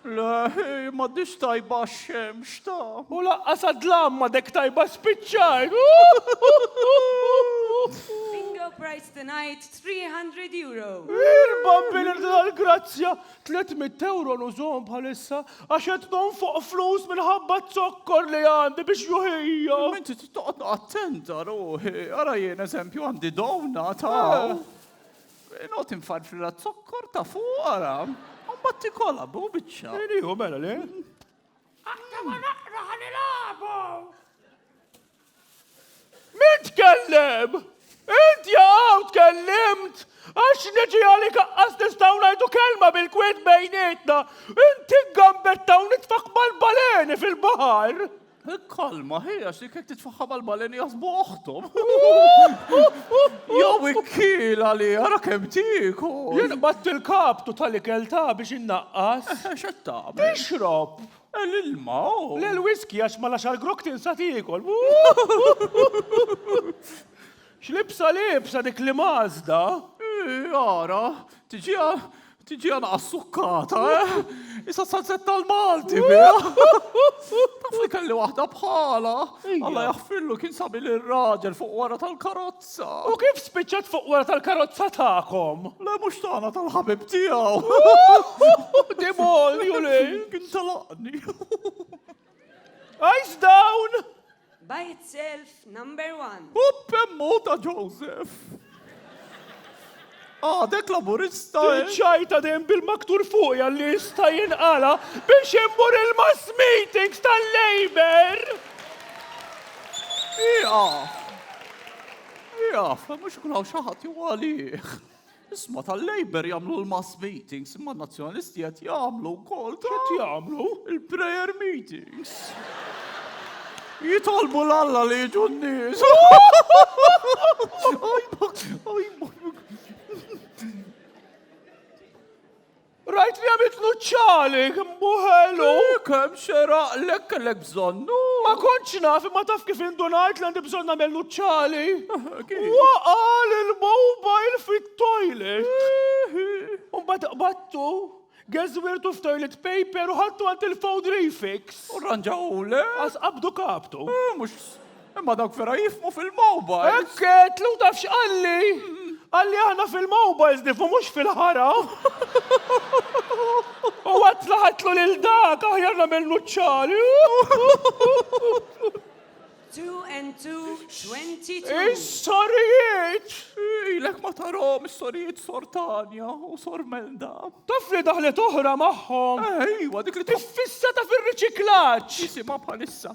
Le, hi m'għaddhiex tajba x-xemx ta'. U laqqas għad-dlam m'għadek tajba spiċċajt! Bingo prize tonight, €300. Il-bambini tal-grazzja, €300 nużhom bħalissa għax qed nonfoq flus minħabba z-zokkor li għandi biex juħija. Inti trid toqgħod attenta ruħi, ara jien eżempju għandi downa ta'. Inqgħod infarfrilha z-zokkor ta' fuq ara. U mbagħad tikolha bu biċċa. Hu mela le? Aktar ma naqra ħa nilagħbu! Min tkellem? Int jaqgħu tkellimt! Għax neġi għalik aqqas nistaw najdu kelma bil-kwet bejnietna. Inti gambetta u nitfak mal-baleni fil-bahar. Il-kalma hija xi kif titfaħħa mal-baleni jaħsbu oħthom. Jew ikkiela li ara kemm tieku. Jien qatt il-kaptu tal-ikel ta' biex innaqqas. Eh, x'qed tagħmel? Tixrob. Eh, l-ilma. Oh. Le l-whisky għax ma laxar grok tinsa tiekol. X'libsa liebsa dik li Mażda? Eeh, ara, tiġiha, tiġiha naqas sukkata, eh? Isa s-salsetta l-Malti biha! Taf li kelli waħda bħalha? Alla jaħfirlu kien sabi lir-raġel fuq wara tal-karozza. U kif spiċċat fuq wara tal-karozza tagħkom? Le mhux tagħna tal-ħabib tiegħu. Demolju lil! Kien telaqni. Eyes down! By itself, number one. U pemmu ta' Joseph. Għadek laburista. Eh? Ċajta dem bil-maktur fuq jalli jista jinqala biex immur il-mass meetings tal-Labor. Iqaf. Iqaf, mux kunaw xaħat jgħalih. Isma' tal-Labour jagħmlu l-mass meetings, imma n-Nazzjonalisti qed jagħmlu wkoll qed jagħmlu il-prayer meetings. Jitolbu l-Alla li jiġu n-nies. Rajt li għamiltlu ċ-ċagħlig, mbuħelu! Kemm xeraqlek kellek bżonnu? Ma kontx naf imma taf kif indunajt li għandi bżonn nagħmellu ċ-ċagħli? Waqa' l-mobile fit-toilet! Mbagħad qbadtu, geżwirtu f'toilet paper u ħadtu għand il-food refix. U rranġawhulek? Qas qabdu kaptu. Mhux. Imma dawk vera jifhmu fil-mobile. Hekk għedtlu u taf x'qalli? Qalli aħna fil-mobiles nifhmu mhux fil-ħara. U għad tlaħatlu lil dak aħjar nagħmel nuċċali. Two and two, twenty two. Is-sorijiet! Ilek ma tarom is-sorijiet sor Tanja u sor Melda. Taf li daħlet oħra magħhom. Ejwa, dik li tif. Fissa ta' fir-riċiklaġġ. Isimha bħalissa.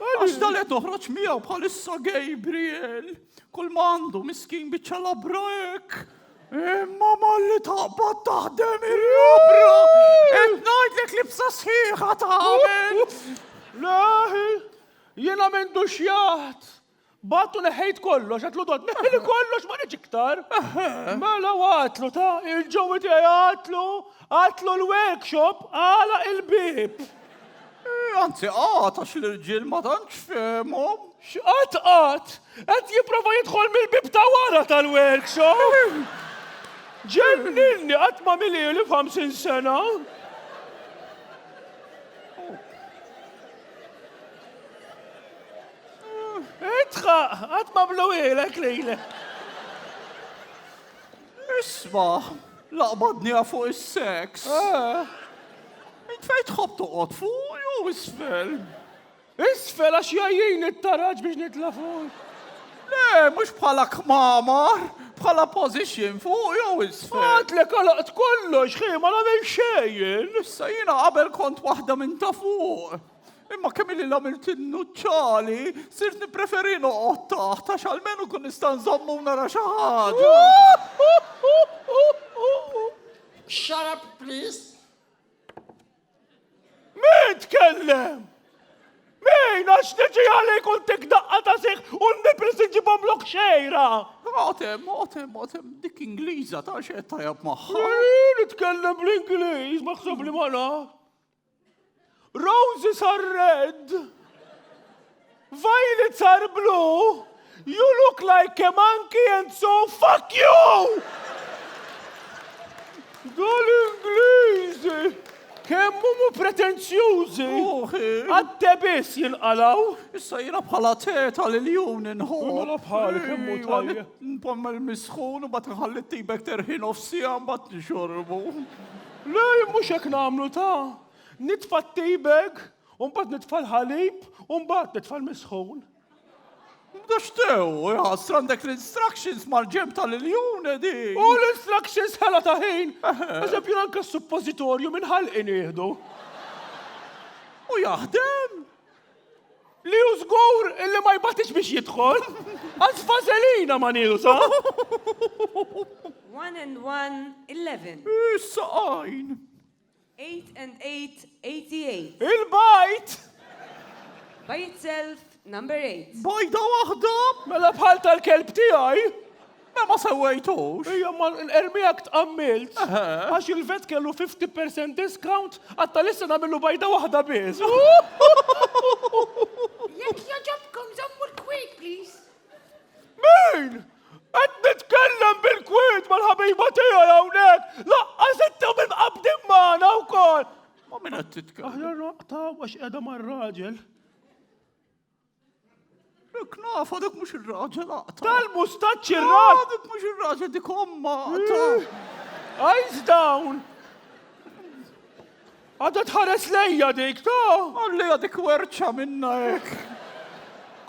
Għax dal qed toħroġ miegħu bħalissa Gabriel. Kull ma għandu miskin biċċa labra hekk. Imma malli taqbad taħdem ir-rabra. Qed ngħidlek li bsa sħiħa tagħmel. Leħi, jiena m'għandux jaħt. B'għadd u neħħejt kollox, għedtlu Dod, neħħili kollox ma niġ iktar. Mela u għatlu ta' il-ġewwi tiegħi għatlu, għatlu l-workshop għala il-bib. Eh, anzi għat għax l-irġiel ma tantx fehmhom. X'qat qat, qed jipprova jidħol mill-bib ta' wara tal-workshop. Ġenninni qatt ma milieli f'ħamsin sena. Itħaq, għad ma bluwilek lili. Isma, laqbadni fuq is-seks. Eh. Int fejn tħobb toqgħod fuq jew isfel? Isfel għax jajjin it-taraġ biex nitla' fuq. Le, mhux bħala kmamar, bħala pożiċjon fuq jew isfel. Għad li kolaqt kollox, ħima nagħmel xejn. Issa jiena qabel kont waħda minn ta' fuq. Imma kemm illi l-għamilt innuċċali, sirt nippreferi noqgħod taħt għax almenu kun nista' nżommu nara xi ħaġa. Shut up, please. Min tkellem? Min għax niġi għalik u ntik daqqa ta' siħ u n-nipis nġibom lok xejra. Għotem, għotem, għotem, dik Ingliża ta' xed tajab maħħa. Min tkellem bl-Ingliż, maħseb li ma naf. Roses are red. Violets are blue. You look like a monkey and so fuck you! Dal-Ingliżi! Kemm huma pretenzjużi! Għatte biss jinqalaw! Issa jira bħala teta li l-jum ninħu. Mela bħali kemm hu tajja. Npommel misħun u bat nħalli tibek terħin of sija bat nixorbu. Le, mhux hekk nagħmlu ta! Nitfa' t-tea bag, u mbagħad nitfa' l-ħalib, u mbagħad nitfa' l-misħun. Da x'tew, iħassra għandek l-instructions mal-ġenb tal-iljun, Edi! U l-instructions ħela ta' ħin! Eżempju, anke s-suppożitorju minn ħalqi nieħdu. U jaħdem! Li hu żgur illi ma jbatix biex jidħol, għax vażelina ma nieqsa. One and one, eleven. Is-saqajn. Eight and eight, eighty eight. Il-bajt! By itself, number eight. Bajda waħda? Mela bħal tal-kelb tiegħi. Mela ma sewwejtux. Ejja imma ermiha tqammilt. Għax il-vet kellu 50% discount, għad tal-issa nagħmillu bajda waħda biss. Jekk jogħġobkom żommu l-kwiet please. Min? Qed nitkellem bil-kwiet mal-ħabiba tiegħi hawnhekk, laqqas intom imqabbdin magħna wkoll! Ma' min qed titkellem? Aħjar naqtgħu għax qiegħda mar-raġel. Dik nafa, dik mhux ir-raġel aqta. Tal-mustaċċ ir-raġel. Ah, dik mhux ir-raġel dik omma aqta. Eh, eyes down. Għadha tħares lejja dik, ta? Għallija dik werċa minna hekk.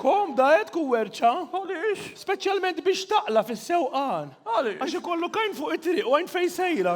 Kom da qed ku werċa? Għaliex? Speċjalment biex taqla fis-sewqan. Għaliex? Għax ikollu kajn fuq it-triq u għajn fejn sejra.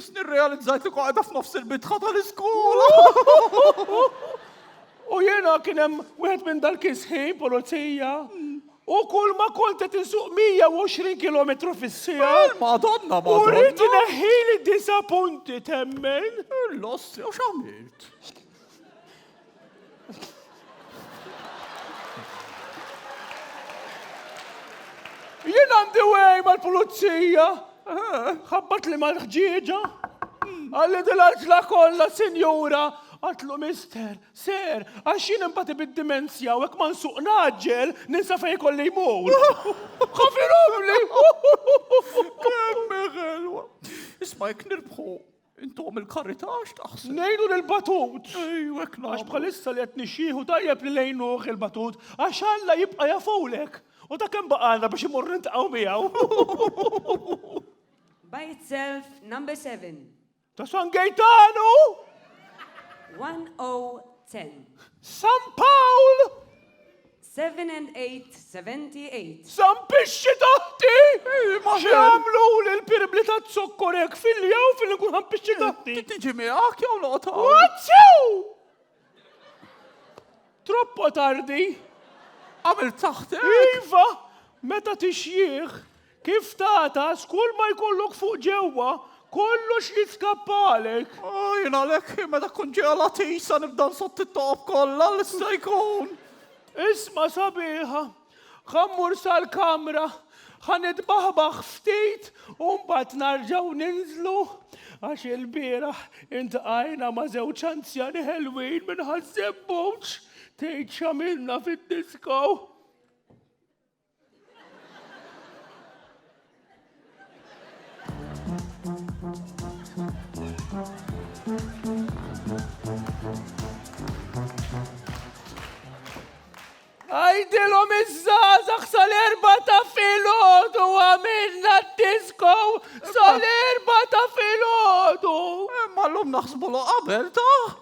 Isni rrealizzajt li qagħda f'nofs il-bitħa tal-iskola. U jiena kien hemm wieħed minn dal-kisħin pulizija. U kull ma kont qed insuq 120 km fis-sija. Madonna, U rrid madonna. neħħili disa punti temmen. L-ossi, u x'għamilt? Jien għandi wej mal-pulizija, ħabbat li mal-ħġieġa. Għalli dil-għaġla kollha, sinjura, għatlu mister, ser, għax jien imbati bid-dimensja u hekk ma nsuq naġġel, ninsa fej kolli jmur. Ħafiromli! Kemm ħelwa. Isma' jekk nirbħu, Intom il-karità x'taħseb? Nejnu lil batut. Ejju hekk Għax bħalissa li qed nixxieħu tajjeb li nejnuh il-batut għax Alla jibqa' jafulek. U ta' kemm baqgħalna biex immorru niltaqgħu miegħu. By itself number seven. Ta' San Gejtanu! One O ten. San Pawl! Seven and eight, seventy eight. Zampixxi taħti! X'għamluli l-pirmli taz-zokkor hekk filja u fil-li nkun ħampixxi taħti? Tiġi miegħek jew noqgħod hawn? Wazzew! Troppo tardi. Għamilt taħtek? Iva, meta tixjih, Kif tagħtas kull ma jkollok fuq ġewwa, kollox jitskappalek. O, jien għalhekk, meta tkun ġejja l-għatisa nibda nsotti t-toqob kollha li sta jkun. Isma' sabiħa, ħa mmur sal-kamra, ħa nitbaħbaħ ftit u mbagħad narġgħu ninżlu, għax ilbieraħ intqajna ma' żewġ anzjani ħelwin minn Ħaż-Żebbuġ, tgħid x'għamilna fid-disko. Għajdilom iż-żazax sal-erba ta' filgħodu għamilna t-disko sal-erba ta' filgħodu. Imma l-lum naħsbu qabel ta'